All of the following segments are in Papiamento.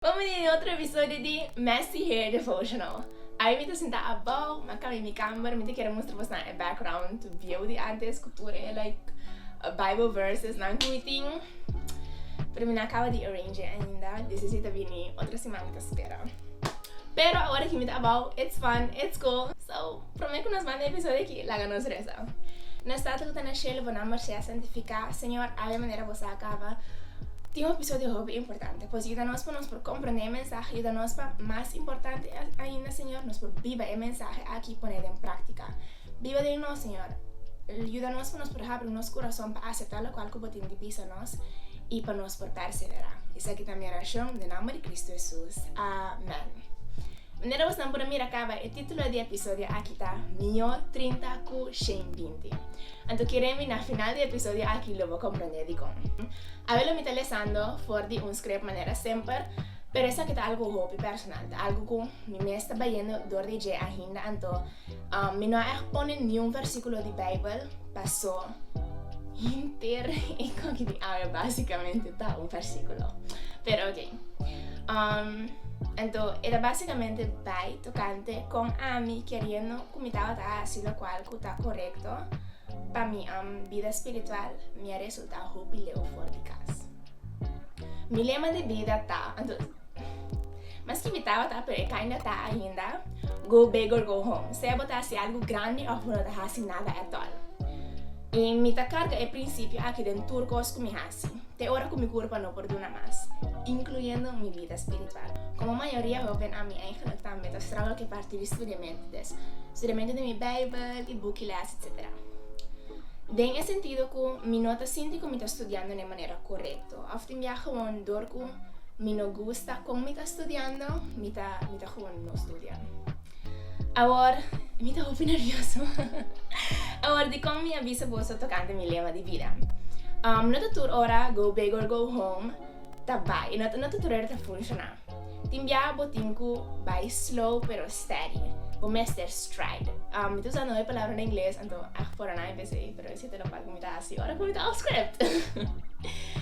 Bo bini den otro episodio di Messy Hair Devotional. Awe mi ta sinta abao, mi a cambia mi camber, mi ta kere mustra bos nan e background view di antes cu tur e like bible verses nan cu mi tin, pero mi no a caba di arrange ainda, deci si ta bini otro siman mi ta spera, pero awor aki mi ta abao, it's fun, it's cool, so. Prome ku nos manda e episodio aki, laga nos resa. Nos Tata ku ta na shelu, bo nomber sea santifiká. Señor, awe manera bo sa kaba tin un episodio hopi importante. Pues yuda nos pa nos por komprendé e mensahe. Yuda nos pa, mas importante ainda, Señor, nos por biba e mensahe aki i pone den práktika. Biba den nos, Señor. Yuda nos pa nos por habri nos kurason pa aseptá lokual ku bo tin di bisa nos i pa nos por pèrseverá. Esaki ta mi orashon den nomber di Kristu Hesus. Amèn. Manera bos nan por a mira caba, e titulo di e episodio aki ta Mió trinta cu Shane binti. Anto kere mi na final di e episodio aki lo bo comprende dicon. Awe lo mi ta lesando for di un script manera semper, pero esaki ta algo hopi personal, ta algo cu mi mes ta bayendo door di dje ainda anto, Um, mi no a echt pone niun versíkulo di Beibel, pasó hinter e koki di awe básikamente ta un versíkulo. Pero oké. Um, ento, era básikamente bai tokante kon ami keriendo ku mi tabata hasi lokual ku ta korekto pa mi um bida spiritual, mi a resultá hopi leu for di kas. Mi lema di bida ta, ento, Maski mi tabata pero e caña ta ainda go big or go home, sea bo ta haci algo grandi of bo no ta haci nada at all. Y mi ta carga e principio aki den tur cos cu mi haci, te ora cu mi curpa no por duna mas, incluyendo mi vida spiritual. Como mayoria hoven ami eigenlijk tambe ta struggle cu e parti di studiamento des, studiamento di mi bijbel y bukiles etcetera. Den e sentido cu mi no ta sinti cu mi ta studiando na e manera correcto. Tò, òf tin bia gewoon dor ku mi no gusta kon mi ta studiando, mi ta mi ta gewoon no studia. Awor, mi ta hopi nervioso. Awor di kon mi a bisa boso tokante mi lema di bida. No ta tur ora go big or go home ta bai, no ta tur ora ta funshoná. Tin bia bo tin cu bay slow pero steady. Bo mester stride. Um, mi ta usa noe palabra na ingles, anto ach por anai p'esey, pero ese ta lo cual cu mi ta haci ora cu mi ta off script.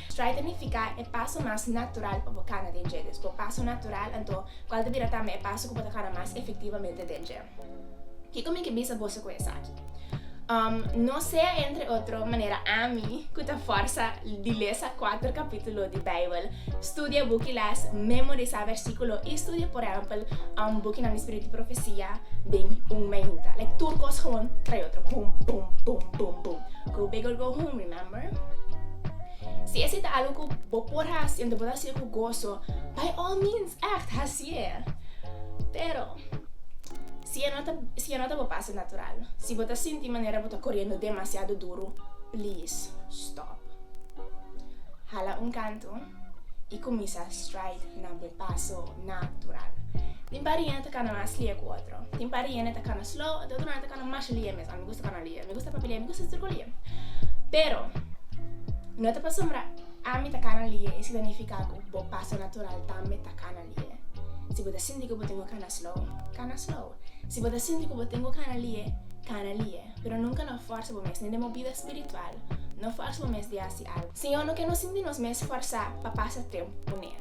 Stride ta nifica e paso mas natural pa bo cana den dje. Bo paso natural, anto cual ta bira tambe e paso cu bo ta cana mas efectivamente den dje. Kiko mi ke bisa boso ku esaki? Um, no sea entre otro manera ami ku ta forsa di lesa kuater kapítulo di Beibel, studia buki les, memorisá versíkulo i studia por ehèmpel um, bukinan di spiritu di profesia den un meiuta. Like tur kos gewoon trei otro bum bum bum bum bum. Go big or go home, remember? Si esi ta algu ku bo por hasi, enton bo ta hasiu ku goso, by all means, ègt hasi. Tier, pero si e no ta si e no ta bo pasa natural, si bo ta sinti manera bo ta koriendo demasiado duro, please stop. Hala un kantu i kuminsa stride na bo paso natural. Tin par riende ta kana mas lie ku otro, tin par riende ta kana slow, tin otronan ta kana masha lie mes. A mi gusta kana lie, mi gusta papia lie, mi gusta tur ko lie. Pero no ta pasobra. Ami ta cana lie y si ta nifica cu bo paso natural tambe ta cana lie. Si bo ta sinti cu bo tin cu cana slow, cana slow. Si bo ta sinti cu bo tin cu cana lie, cana lie. Pero nunca no forsa bo mes, ni den bo bida spiritual, no forsa bo mes di haci algo. Señor no ke nos sinti nos mes forsa pa pasa tempo cu Ne.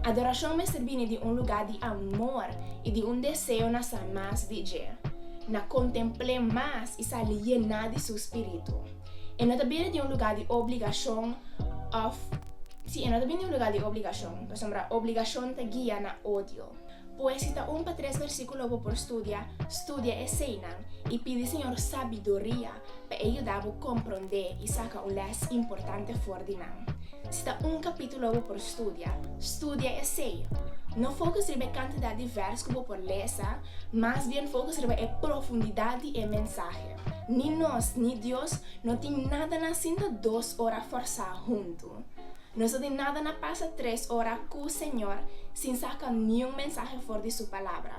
Adoracion mester bini di un lugar di amor y di un deseo na sa mas di Dje, na contempl'E mas y sali yena di Su Spiritu. E no ta bini di un lugá di obligashon òf sí, e no ta bini di un lugá di obligashon, pasobra obligashon ta guia na odio. Pues si ta un pa tres versíkulo bo por studia, studia eseinan i pidi Señor sabiduria pa e yuda bo komprondé i saka un lès importante for di nan. Si ta un kapítulo bo por studia, studia esei. No fokus riba e kantidat di vèrs ku bo por lesa, mas bien fokus riba e profundidat di e mensahe. Ni nos ni Dios no tin nada na sinta dos ora forsá huntu. Nos no tin nada na pasa tres ora ku Señor sin saka niun mensahe for di Su Palabra,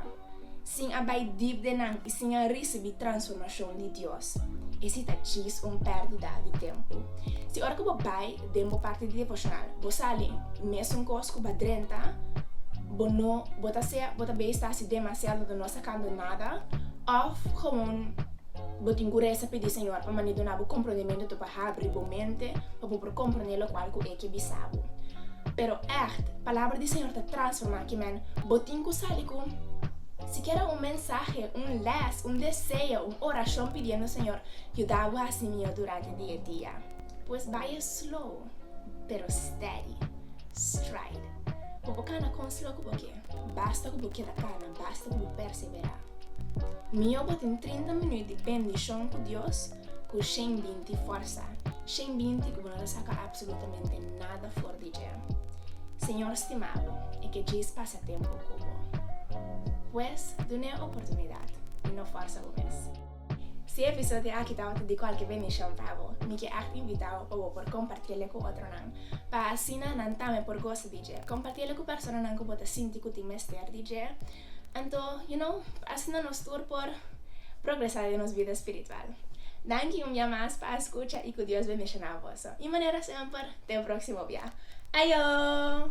sin a bai dip den nan i sin a risibí transformashon di Dios. Esei ta djis un pèrdida di tempu. Si ora ku bo bai Den bo parti di devocional bo sali mesun cos cu ba drenta bo no bo ta sea bo ta bay sta si demasiado do no sta cando nada of gewoon bo tin cu resa pidi Señor pa mane dona bo comprondimento to pa habri bo mente pa bo por comprone locual cu e ke bisa bo pero echt palabra di Señor ta transforma kimen bo tin cu sali cu sikiera un mensahe un les un deseo un oracion pidiendo Señor yuda bo haci miyo durante di e dia. Pues baya slow pero steady, stride. Pa bo cana con slow cu bo kier, basta cu bo keda cana, basta cu bo persevera. Mihor bo tin trinta minuut di bendicion cu Dios cu shen binti fuerza, shen binti cu bo no ta saca absolutamente nada for di dje. Señor stima bo y ke djis pasa tempo cu bo. Pues dun'e oportunidad y no forza bo mes. Si e episodio di aki tabata di cualke bendición pa bo, mi ke echt invita bo pa bo por compartiele cu otronan, pa asina nan tambe por goza di dje. Compartiele cu personanan cu bo ta sinti cu tin mester di dje. Anto, you know, pa asina nos tur por progresa den nos bida spiritual. Danki un bia mas pa escucha y cu Dios bendiciona boso y manera semper, den proximo bia. Ayo!